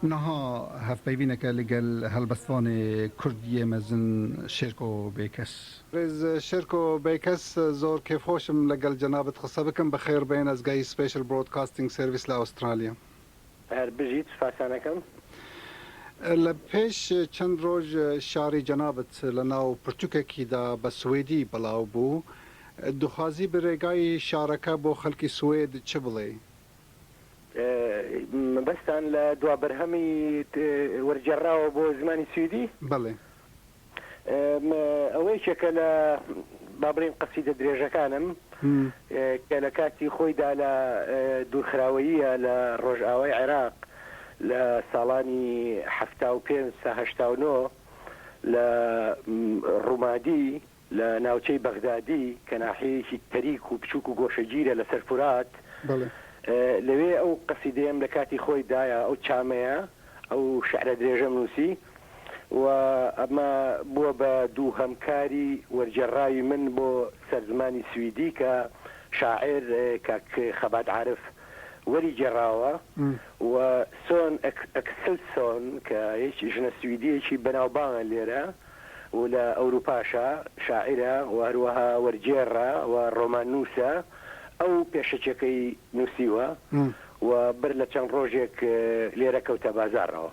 نها هەڤپەیڤینەکە لەگەل هەلبەستڤانێ کوردیێ مەزن شێرکۆ بێکەس. بەرێز شێرکۆ بێکەس، زۆر کێفخۆشم لەگەل جەنابت قسە بکەم، بەخێڕ بێن ئەز گای سپێشل برۆدکاستینگ سێرڤیس لە ئەوسترالیام. هەر بژیت، سوپاسانەکەم. لە پێش چەند رۆژ شعری جەنابت لە ناو پرتوکەکیدا بە سوێدی بڵاو بوو، دخوازی بە رێگای شعرەکە بۆ خەلکی سوێد چ بڵێی؟ مەبەستتان لە دوا بەرهەمی وەرگێڕراوە بۆ زمانی سویدی؟ بەڵێ. ئەوە یەکێکە لە با بڵێین قەسیدە درێژەکانم کە لە کاتی خۆیدا لە دوورخراوەییە لە ڕۆژئاوای عێراق لە ساڵانی حەفتا و پێنج تا هەشتا و نۆ لە ڕومادی، لە ناوچەی بەغدادی کە ناحیەیەکی تەریک و بچووک و گۆشەگیرە لەسەر فورات، لەوێ ئەو قەسیدەیەم لە کاتی خۆی دایە ئەو چامەیە، ئەو شعرە درێژەم نووسی و ئەمە بووە بە دووهەم کاری وەرگێڕراوی من بۆ سەر زمانی سویدی کە شاعیر کاک خەبات عارف وەری گێڕاوە و سۆن ئەکسلسۆن کە ژنە سویدییەکی بەناوبانگە لێرە، و لە ئەوروپاشا شاعیرە و هەروەها وەرگێڕە و ڕۆماننووسە، ئەو پێشەکیەکەی نووسیوە و بەر لە چەند ڕۆژێک لێرە کەوتە بازاڕەوە.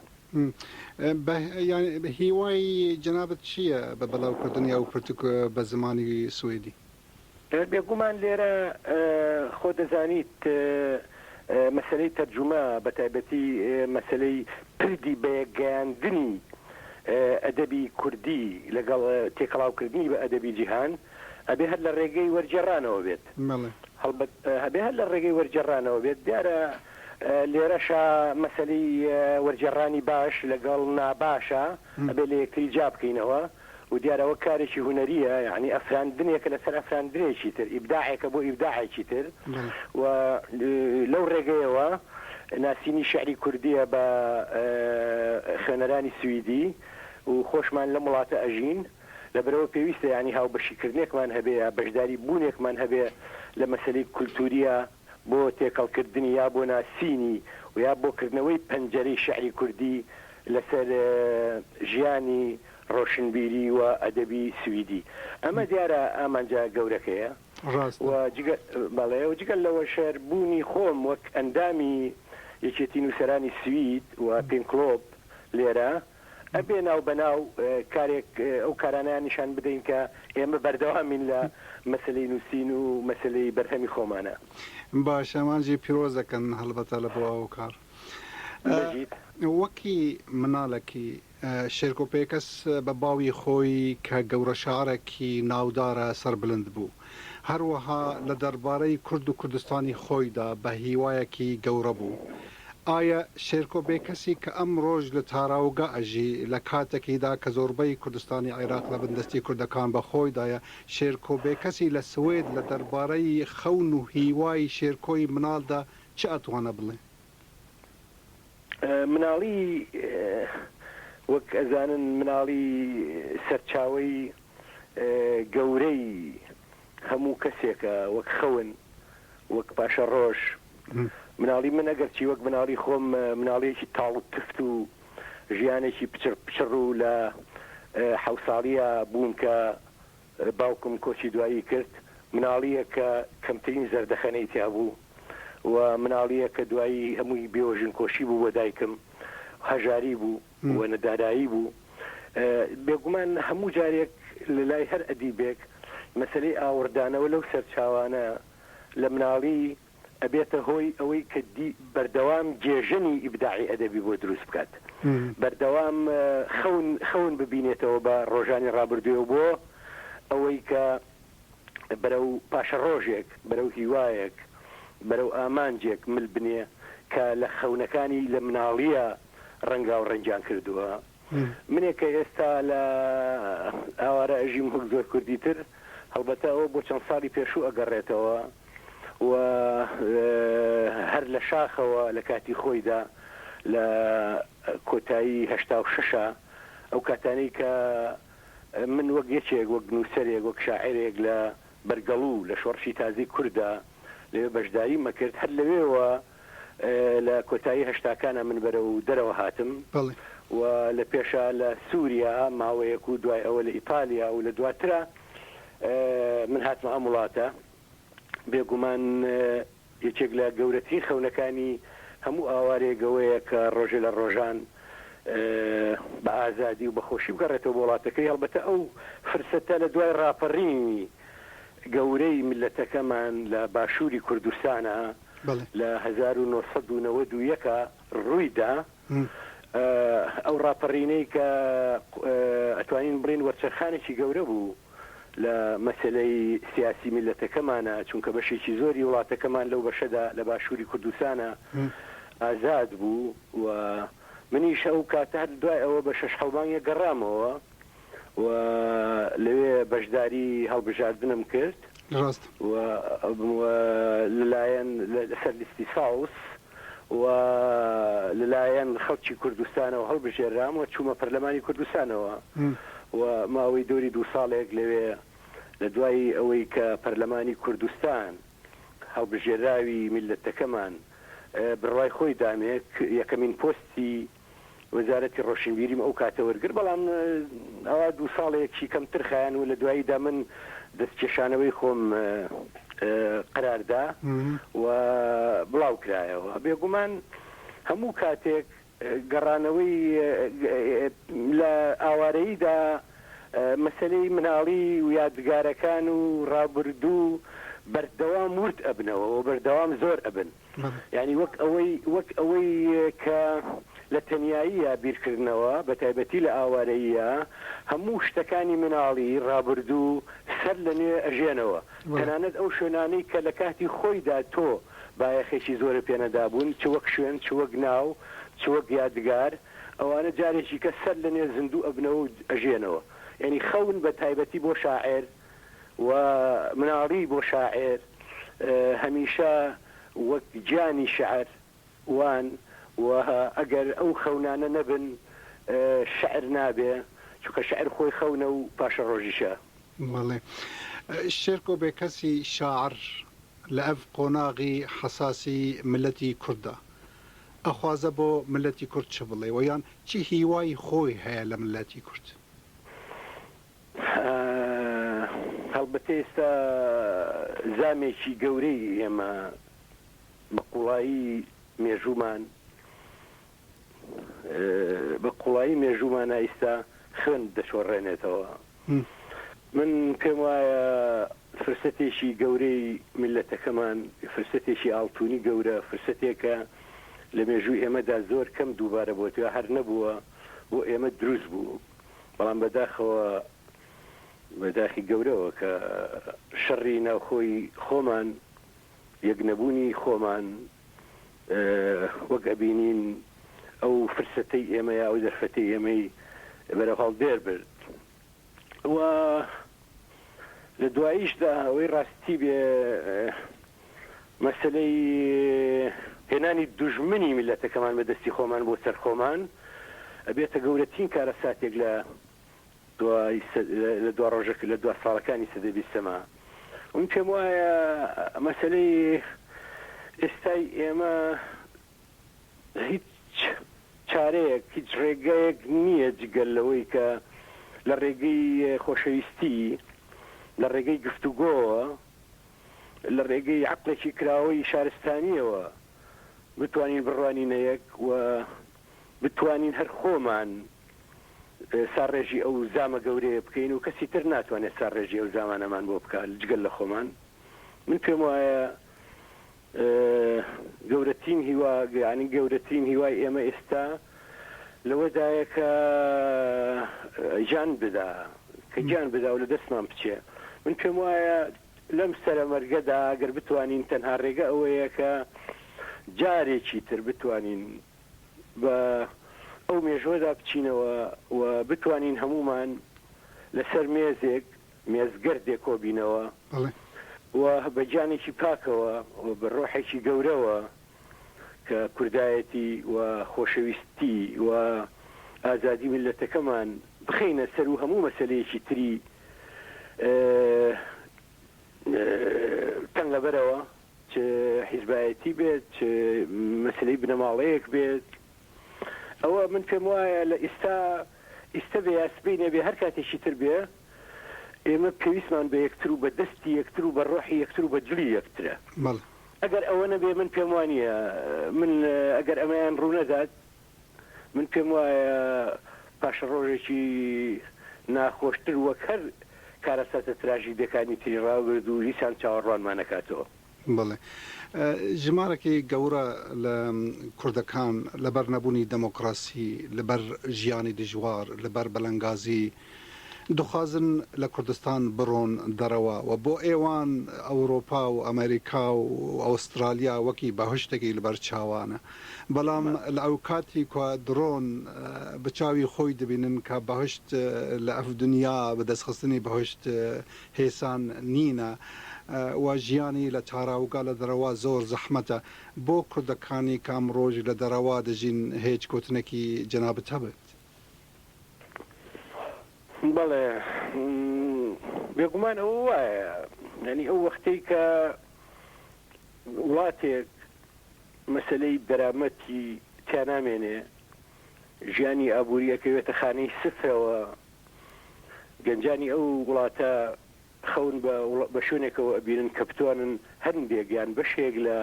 بە هیوای جەنابت چییە بە بەڵاوکردنی ئەو پرتووکە بە زمانی سویدی؟ بێگوومان لێرە خۆ دەزانیت مەسەلەی تەرجوومە بە تایبەتی مەسەلەی پردی بە یەک گەیاندنی ئەدەبی کوردی لەگەڵ تێکەڵاو کردنی بە ئەدەبی جیهان ئەبێ هەر لە ڕێگەی وەرگێڕانەوە بێت هەڵبەت ئەبێ هەر لە ڕێگەی وەرگێڕانەوە بێت دیارە لێرەشا مەسەلەی وەرگێڕانی باش لەگەڵ ناباشە ئەبێ لە یەکتری جیا بکەینەوە و دیارە ئەوە کارێکی هونەرییە یەعنی ئەفراندنێکە لەسەر ئەفراندنێکی تر ئیبداعێکە بۆ ئیبداعێکی تر و لەو ڕێگەیەوە ناسینی شعری کوردییە بە خوێنەرانی سویدی و خۆشمان لەم وڵاتە ئەژین لەبەرئەوە پێویستە یەعنی هاوبەشیکردنێکمان هەبێ یا بەشداری بوونێکمان هەبێ لە مەسەلەی کولتوورییە بۆ تێکەڵ کردنی یا بۆ ناسینی و یا بۆ کردنەوەی پەنجەرەی شیعری کوردی لەسەر ژیانی ڕۆشنبیری و ئەدەبی سویدی. ئەمە دیارە ئامانجە گەورەکەیە و جگە بەڵێ و جگە لەوەشر بوونی خۆم وەک ئەندامی یەکێتی نووسەرانی سوید و پینکلۆب لێرە ئەبێ ناو بە ناو کارێک ئەو کارانەیان نیشان بدەین کە ئێمە بەردەوامین لە مەسەلەی نووسین و مەسەلەی بەرهەمی خۆمانە. باشە ئەمانجی پیرۆز دەکەن هەڵبەتە لە بۆ ئەو کار. بژیت. وەکی منالەکی شێرکۆ پێکەس بە باوی خۆی کە گەورە شاعرەکی ناودارە سەربلند بوو هەروەها لە دەربارەی کورد و کوردستانی خۆیدا بە هیوایەکی گەورە بوو ئایا شێرکۆ بێکەسی کە ئەمڕۆش لە تاراوگە ئەژی، لە کاتەکیدا کە زۆربەی کوردستانی عێراق لە بن دەستی کوردەکان بە خۆیدایە، شێرکۆ بێکەسی لە سوێد لە دەربارەی خەون و هیوای شێرکۆی مناڵدا چ ئەتوانە بڵێ؟ مناڵی وەک ئەزانن مناڵی سەرچاوەی گەورەی هەموو کەسێکە وەک خەون وەک پاشە ڕۆژ مناڵی من ئەگەرچی وەک مناڵی خۆم مناڵیەکی تاڵ و تفت و ژیانێکی پچڕ پچڕ و لە حەو ساڵیە بووم کە باوکم کۆچی دوایی کرد مناڵیە کە کەمترین زەردەخەنەی تیا بوو و مناڵیە کە دوایی هەمووی بێوەژنکۆشی بوو بۆ دایکم هەژاری بوو وەنە دارایی بوو. بێگومان هەموو جارێک لە لای هەر ئەدیبێک مەسەلەی ئاوڕدانەوە لەو سەرچاوانە لە مناڵی ئەبێتە هۆی ئەوەی کە بەردەوام گێژەنی ئیبداعی ئەدەبی بۆ دروست بکات، بەردەوام خەون خەون ببینێتەوە بە ڕۆژانی ڕابردوێ و بۆ ئەوەی کە بەرەو پاشەڕۆژێک، بەرەو هیوایەک، بەرەو ئامانجێک مل بنێ کە لە خەونەکانی لە مناڵییە ڕەنگاو ڕەنگیان کردووە منێک کە ئێستا لە ئاوارە ئەژیم وەک زۆر کوردی تر هەڵبەتە ئەوە بۆ چەند ساڵی پێشوو ئەگەڕێتەوە و هەر لە شاخەوە لە کاتی خۆیدا لە کۆتایی هشتا و ششە ئەو کاتانەی کە من وەک یەکێک وەک نووسەرێک وەک شاعرێک لە بەرگەڵو لە شۆڕشی تازەی کورددا لەوێ بەشداریم ئەکرد، هەر لەوێوە لە کۆتایی هەشتاکانا من بەرەو دەرەوە هاتم بەڵێ. و لە پێشا لە سوریا ماوەیەک و دوای ئەوە لە ئیتالیا و لە دواترا من هاتمە ئەم وڵاتە بێگومان. یەکێک لە گەورەترین خەونەکانی هەموو ئاوارەیەک ئەوەیە کە ڕۆژێ لە ڕۆژان بە ئازادی و بە خۆشی بگەڕێتەوە بۆ وڵاتەکەی، هەڵبەتە ئەو فرسەتە لە دوای ڕاپەڕینی گەورەی میللەتەکەمان لە باشووری کوردستانا لە هەزار و نۆ سەد و نەوەد و یەک ڕووی دا، ئەو ڕاپەڕینەی کە ئەتوانین بڵێین وەرچەرخانێکی گەورە بوو. لە مەسەلەی سیاسی میللەتەکەمانە، چونکە بەشێکی زۆری وڵاتەکەمان لەو بەشەدا لە باشووری کوردستانە ئازاد بوو و منیش ئەو کاتە هەر دوای ئەوە بە شەش حەو مانگێک گەڕامەوە و لەوێ بەشداری هەڵبژاردنم کرد و بووم لەلایەن لەسەر لیستی ساوس و لەلایەن خەڵکی کوردستانەوە هەڵبژێررام و چوومە پەرلەمانی کوردستانەوە و ماوەی دەوری دوو ساڵێک لەوێ لە دوای ئەوەی کە پەرلەمانی کوردستان هەڵبژێراوی میللەتەکەمان بڕوای خۆی دامێک یەکەمین پۆستی وەزارەتی ڕۆشنبیریم ئەو کاتە وەرگر بەڵام ئەوا دوو ساڵێکی کەمتر خایەن و لە دواییدا من دەستکێشانەوەی خۆم قەراردا و بڵاوکرایەوە بێگومان هەموو کاتێک گەڕانەوەی لە ئاوارەییدا مەسەلەی مناڵی و یادگارەکان و ڕابردوو بەردەوام ورد ئەبنەوە و بەردەوام زۆر ئەبن. مەم. یانی وەک ئەوەی وەک ئەوەی کە لە تەنیاییە بیرکردنەوە بە تایبەتی لە ئاوارەییە هەموو شتەکانی مناڵی ڕابردوو سەر لە نوێ ئەژێنەوە تەنانەت ئەو شوێنانەی کە لە کاتی خۆیدا تۆ بایەخێکی زۆرە پێ نەدابوون چ وەک شوێن چ وەک ناو چ وەک یادگار ئەوانە جارێکی کە سەر لە نوێ زیندوو ئەبنەوە و ئەژێنەوە یانی خەون بە تایبەتی بۆ شاعێر و مناڵی بۆ شاعێر هەمیشە وەک گیانی شعر وان و ئەگەر ئەو خەونانە نەبن شعر نابێ چونکە شعر خۆی خەونە و پاشەڕۆژیشە. بەڵێ شێرکۆ بێکەسی شاعر لە ئەڤ قۆناغی حەساسی مللەتی کورددا ئەخوازە بۆ مللەتی کورد چ بڵێ و یان چ هیوای خۆی هەیە لە مللەتی کورد؟ هەڵبەتە ئێستا زامێکی گەورەی ئێمە بە قوڵایی مێژوومان بە قوڵایی مێژوومانە ئیستا خوێن دەشۆڕێنێتەوە من پێم وایە فرسەتێکی گەورەی میلەتەکەمان فرسەتێکی ئاڵتونی گەورە فرسەتێکە لە مێژووی ئێمەدا زۆر کەم دووبارە بۆتوە هەر نەبووە بۆ ئێمە دروست بوو بەڵام بەداخەوە بە داخی گەورەوە کە شەڕی ناوخۆی خۆمان یەک نەبوونی خۆمان وەک ئەبینین ئەو فرسەتەی ئێمە یا ئەو دەرفەتی ئێمەی بەرە هەڵدێر برد و لە دواییشدا ئەوەی ڕاستی بێ مەسەلەی هێنانی دوژمنی میللەتەکەمان بە دەستی خۆمان بۆ سەر خۆمان ئەبێتە گەورەترین کارەساتێک لە لە دو ڕۆژەکە لە دو ساڵەکانی سەدەی بیستەما من پێم وایە مەسلەی ئێستای ئێمە هیچ چارەیەک، هیچ ڕێگایەک نییە جگە لەوەی کە لە ڕێگەی خۆشەویستی، لە ڕێگەی گفتوگۆوە، لە ڕێگەی عەقڵێکی کراوەی شارستانییەوە بتوانین بڕوانینە یەک و بتوانین هەر خۆمان ساڕێژی ئەو زامە گەورەیە بکەین و کەسی تر ناتوانێت ساڕێژی ئەو زامانەمان بۆ بکات جگە لە خۆمان. من پێم وایە گەورەترین هیوا یانی گەورەترین هیوای ئێمە ئێستا لەوەدایە کە گیان بدا کە گیان بدا و لە دەستمان بچێ من پێم وایە لەم سرە مەرگەدا گەر بتوانین تەنها ڕێگە ئەوەیە کە جارێکی تر بتوانین بە ئەو مێژوەدا بچینەوە و بتوانین هەمومان لەسەر مێزێک مێزگەرد دێکۆبینەوە و بە گیانێکی پاکەوە و بە ڕۆحێکی گەورەوە کە کوردایەتی و خۆشەویستی و ئازادی میللەتەکەمان بخەینە سەر و هەموو مەسەلەیەکی تری تەنگەبەرەوە، چ حیزبایەتی بێت، چ مەسەلەی بنەماڵەیەک بێت، ئەوە من پێم وایە لە ئیستا ئیستە بێ یا سبەی نەبێ هەر کاتێکی تر بێ، ئێمە پێویستمان بە یەکتر و بە دەستی یەکتر و بە ڕۆحی یەکتر و بە جلی یەکترە. بەڵێ. ئەگەر ئەوە نەبێ من پێم وا نییە، من ئەگەر ئەمەیان ڕوو نەدات، من پێم وایە پاشەڕۆژێکی ناخۆشتر وەک هەر کارەساتە تراژیدییەکانی تری ڕابرد و هیچان چاوەڕوانمان ئەکاتەوە. بەڵێ ژمارەکی گەورە لە کوردەکان لەبەر نەبوونی دەمۆکڕاسی، لەبەر ژیانی دژوار، لەبەر بەلەنگازی دخوازن لە کوردستان بڕۆن دەرەوە و بۆ ئێوان ئەوروپا و ئەمەریکا و ئەوستڕالیا وەکی بەهشتەکی لەبەر چاوانە بەڵام لە ئەوکاتی کوا دڕۆن بە چاوی خۆی دبینن کە بەهشت لە ئەف دنیا بە دەسخستنی بەهشت هێسان نینە و ژیانی لە تاراوگە لە دەرەوە زۆر زەحمەتە بۆ کوردەکانی کە ئەمڕۆش لە دەرەوە دەژین هێچ گۆتنەکی جەنابت هەبێت. بەڵێ بێگومان ئەوە وایە یانی ئەو وەختەی کە وڵاتێک مەسەلەی دەرامەتی تیا نامێنێ ژیانی ئابووری ئەکەوێتە خانەی سفرەوە گەنجانی ئەو وڵاتە خەون بە شوێنێکەوە ئەبینن کە بتوانن هەندێک یان بەشێک لە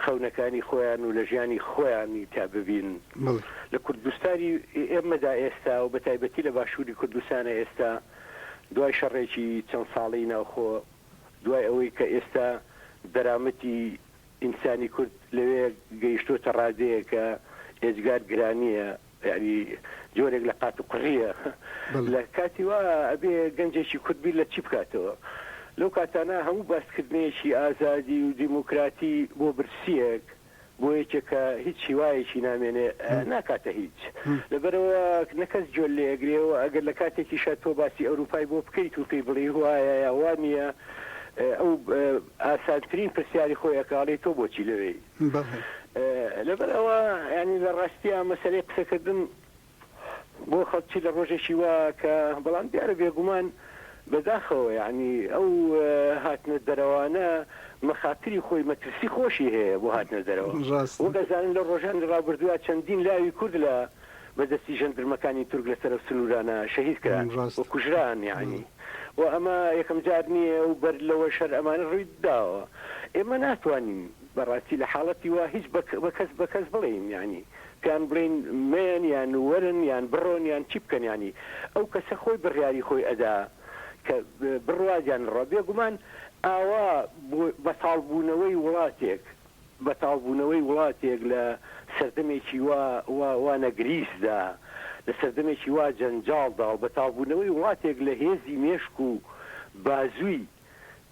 خەونەکانی خۆیان و لە ژیانی خۆیانی تا ببین لە کوردستانی ئێمەدا ئێستا و بە تایبەتی لە باشووری کوردستانە ئێستا دوای شەڕێکی چەند ساڵی ناوخۆ دوای ئەوەی کە ئێستا دەرامەتی ئینسانی کورد لەوێ گەیشتوتە ڕادەیەکە ئێجگار گرانیە یانی جۆرێک لە قات و قژیە لە کاتی وا ئەبێ گەنجێکی کورد بیر لە چی بکاتەوە لەو کاتانە هەموو باسکردنەیەکی ئازادی و دیموکراتی بۆ برسیەک بۆ یەکێک کە هیچ هیوایەکی نامێنێ ناکاتە هیچ لەبەرەوە نەکەس گوێ لێ ئەگرێ و ئەگەر لە کاتێکیشە تۆ باسی ئەوروپای بۆ بکەیت و پێی بڵێ وایە یا وا نییە ئەو ئاسانترین پرسیاری خۆی ئەکاڵی تۆ بۆچی لەوێی لەبەر ئەوە ینی لە ڕاستیە مەسەری قسەکردن بۆ خەڵکی لە ڕۆژێکی وا کە بەڵام دیارە بێگومان بەداخەوە ینی ئەو هاتنە دەرەوانە مەخاتری خۆی مەترسی خۆشی هەیە بۆ هاتنە دەرەوە وەگەزانن لە ڕۆژانی ڕابردووە چەندین لاوی کورد لە بە دەستی ژەندرمەکانی تورک لە سەرەو سنوورانە شەهید کران و کوژران یەعنی و ئەمە یەکەم جار نییە و بەر لەوەش هەر ئەمانە ڕووی داوە ئێمە ناتوانین بە ڕاستی لە حاڵەتی وا هیچ بە کەس بە کەس بڵێین یەعنی پێیان بڵێین مەیەن یان وەرن یان بڕۆن یان چی بکەن یەعنی ئەو کەسە خۆی بڕیاری خۆی ئەدا کە بڕوات یان نەڕوات بێگومان ئاوا بۆ بەتاڵ بوونەوەی وڵاتێک بەتاڵبوونەوەی وڵاتێک لە سەردەمێکی وا وا وا نەگریسدا، لە سەردەمێکی وا جەنجاڵدا و بەتاڵبوونەوەی وڵاتێک لە هێزی مێشک و بازووی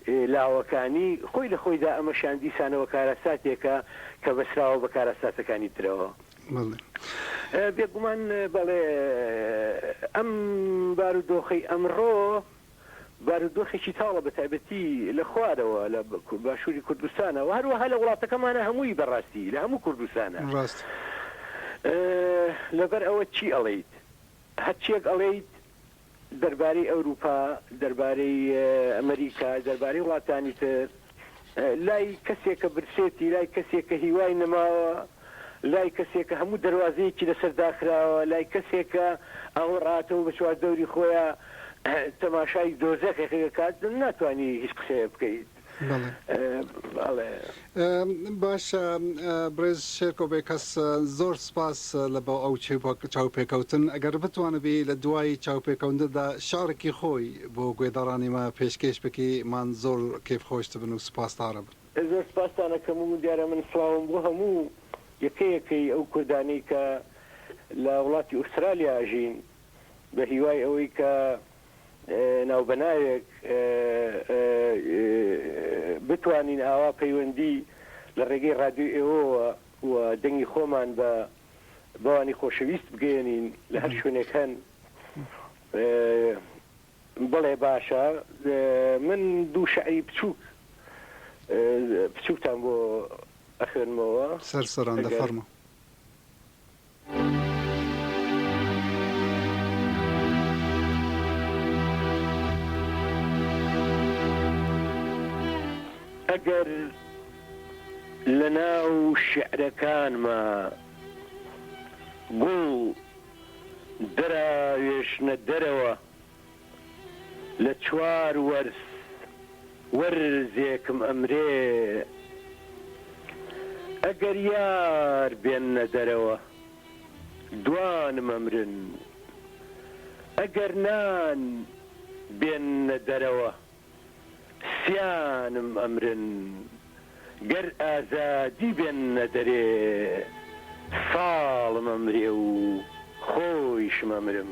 لاوەکانی خۆی لە خۆیدا، ئەمەشیان دیسانەوە کارەساتێکە کە بەسراوە بە کارەساتەکانی ترەوە. بەڵێ. بێگومان بەڵێ. ئەم بارودۆخەی ئەمڕۆ. بارودۆخێکی تاڵە بە تایبەتی لە خوارەوە لە باشووری کوردستانا و هەروەها لە وڵاتەکەمانا هەمووی بە ڕاستی لە هەموو کوردستانا لەبەر ئەوە چی ئەڵێیت هەرچیەک ئەڵێیت دەربارەی ئەوروپا دەربارەی ئەمریکا دەربارەی وڵاتانی تر لای کەسێکە برسێتی، لای کەسێکە هیوای نەماوە، لای کەسێکە هەموو دەروازەیەکی لەسەر داخراوە، لای کەسێکە ئاوە ڕاتەوە بە چواردەوری خۆیا تەماشای دۆزەخێک دەکات، ناتوانی هیچ قسەیە بکەیت. باشە بڕێز شێرکۆ بێکەس زۆر سپاس لە بۆ ئەو چاوپێکەوتن ئەگەر بتوانبی لە دوای چاوپێکەوندەدا شارکی خۆی بۆ گوێدەڕانی مە پێشکێش بکی مان زۆر کێف خۆش دبن و سوپاس تارب. زۆر سوپاستان ئەکەم و دیارە من سڵاوم بۆ هەموو یەکە یەکەی ئەو کوردانەی کە لە وڵاتی ئوسترالیا ئەژین بە هیوای ئەوەی کە ناو بە ناوێک بتوانین ئاوا پەیوەندی لە ڕێگەی ڕادیۆی ئێوەوە و دەنگی خۆمان بە بەوانی خۆشەویست بگەیەنین لە هەر شوێنێک هەن بەڵێ باشە من دوو شعری بچووک بچووکتان بۆ ئەخوێنمەوە سەر سەران دە فەرموو. ئەگەر لەناو شیعرەکانما گوڵ دراوێشنە دەرەوە لە چوار وەرز وەرزێکم ئەمرێ ئەگەر یار بێننە دەرەوە دوانم ئەمرن ئەگەر نان بێننە دەرەوە سیانم ئەمرن گەر ئازادی بێننە دەرێ ساڵم ئەمرێ و خۆیشم ئەمرم.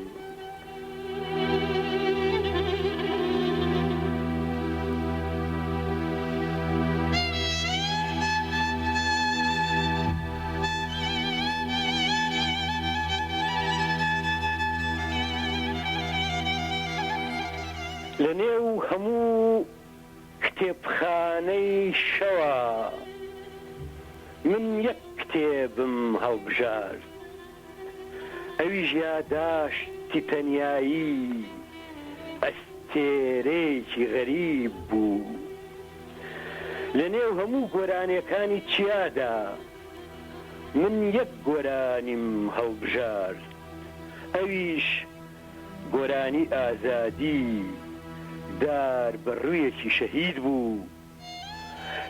لە نێو هەموو کتێبخانەی شەوا من یەک کتێبم هەڵبژارد ئەویش یاداشتی تەنیایی ئەستێرەیەکی غەریب بوو لە نێو هەموو گۆرانێکانی چیادا من یەک گۆرانیم هەڵبژارد ئەویش گۆرانی ئازادی دار بە ڕوویەکی شەهید بوو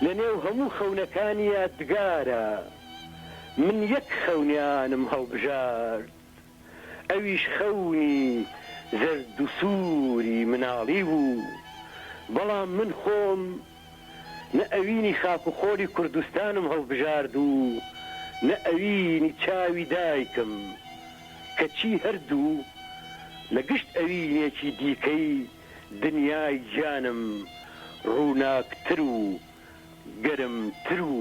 لە نێو هەموو خەونەکانی یادگارە من یەک خەونیانم هەڵبژارد ئەویش خەونی زەردوسووری مناڵی بوو بەڵام من خۆم نە ئەوینی خاک و خۆڵی کوردستانم هەڵبژارد و نە ئەوینی چاوی دایکم، کەچی هەردوو لە گشت ئەوینێکی دیکەی دنیای گیانم ڕووناکتر و گەرمتر و